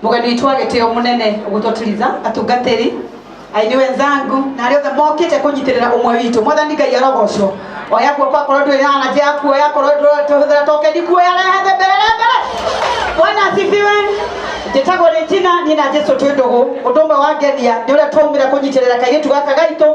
mugeni witå wa gä tä o må nene å gå twatiriza atungatä ri aini wenzangu na arä othe mokä te kå nyitä rä ra å mwe witå mwathani ngai arogocwo oya guoko akorwo ndå ä na njä ya kuoya akorwo tå hå thä ra tokeni kuoya rehe thä mbere re mbere bwana asifiwe njĩtagwo rĩ njina niĩ na jesu twĩ ndũgũ ũndũ ũmwe wangenia nĩ ũrĩa twaumĩra kũnyitĩrĩra kairĩtu gaka gaitũ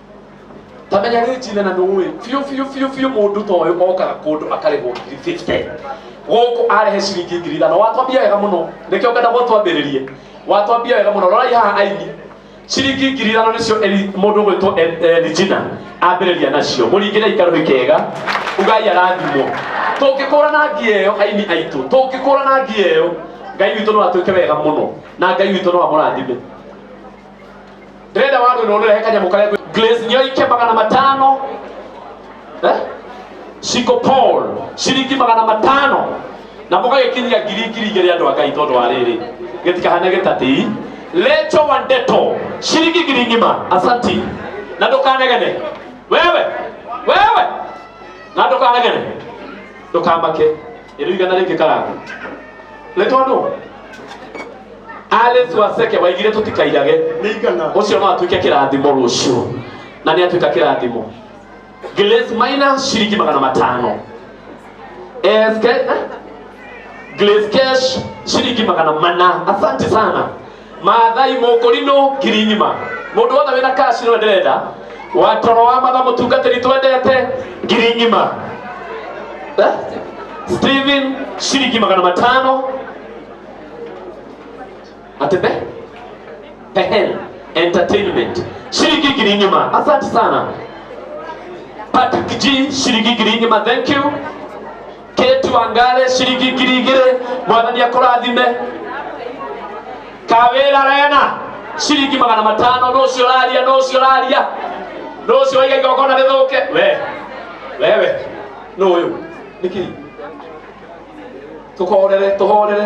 tamenya rä njina na ndå ä biå biå biå biå må ndå ta å yå okaga kå ndå akarä hwo ngiri 50 gũkũ arehe ciringi ngiri ithano watwambia wega mũno nĩkĩo ngenda gwatwambĩrĩrie watwambia wega mũno rorai haha aini ciringi ngiri ithano nĩcio Eli- mũndũ gwĩtwo elijina ambĩrĩria nacio mũringĩrei karũhi kega ugai arathimwo tũngĩkũra na ngia ĩyo aini aitũ tũngĩkũra na ngia ĩyo ngai witũ no atwĩke wega mũno na ngai witũ no amũrathime ndĩrenda wandũ nĩ ũndũrehe kanyamũ karĩa kwĩ- glaze nĩyo ike magana matano eh? ciko paul ciringi magana matano na mũgagĩkinyia ngiri ngiri igĩrĩ andũ a ngai tondũ wa rĩrĩ gĩtikahane gĩtatĩi lecho wa ndeto ciringi ngiri ng'ima asanti na ndũkanegene wewe wewe na ndũkanegene ndũkamake ĩrĩ igana rĩngĩ karanga nĩ tondũ alice waseke waigire tũtikairage nĩ igana ũcio no atuĩke kĩrathimo rũciũ na nĩ atuĩka kĩrathimo glace maina ciringi magana matano SK, glace cash ciringi magana mana asante sana mathai mũkũri no ngiri ng'ima mũndũ wothe wĩna kaci no ndĩrenda wa toro wa matha mũtungatĩri twendete ngiri ng'ima Eh? Steven ciringi magana matano atebe Pehen Entertainment shilingi ngiri ng'ima. Asante sana Patrick G, shilingi ngiri ng'ima. Thank you. Kate Wangare ciringi ngiri igĩrĩ mwathani akũrathime kawĩra rena ciringi magana matano nũ ũcio ũraria nũ ũcio ũraria nũ ũcio waiga igongona rĩthũke we wewe nũ ũyũ nĩkĩ tũhorere tũhorere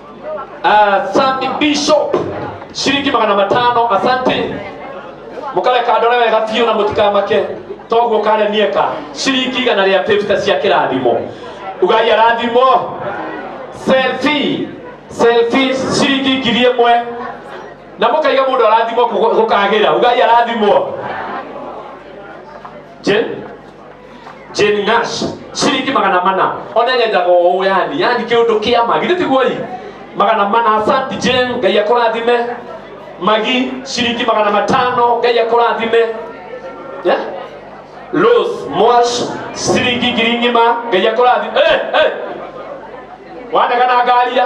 Ah, Sandy Bishop shilingi magana matano asante mukale kandore wega biũ na mũtikamake toguo kare nieka shilingi igana rĩa 50 cia kĩrathimo ugai arathimo selfie selfie shilingi ngiri ĩmwe na mũkaiga mũndũ arathimwo kũgũ- gũkagĩra ugai arathimwo Je- Jane Nash ciringi magana mana ona nyenjaga ũũ yani yani kĩũndũ kĩa magi nĩ tiguoi magana mana asanti Jane ngai akũrathime magi ciringi magana matano ngai akũrathime yeah? Rose Mwash ciringi ngiri ng'ima ngai akũrathime hey, hey. wanegana ngaria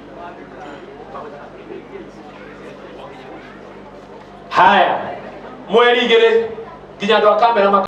haya mweri igĩrĩ nginya andũ a kamera maka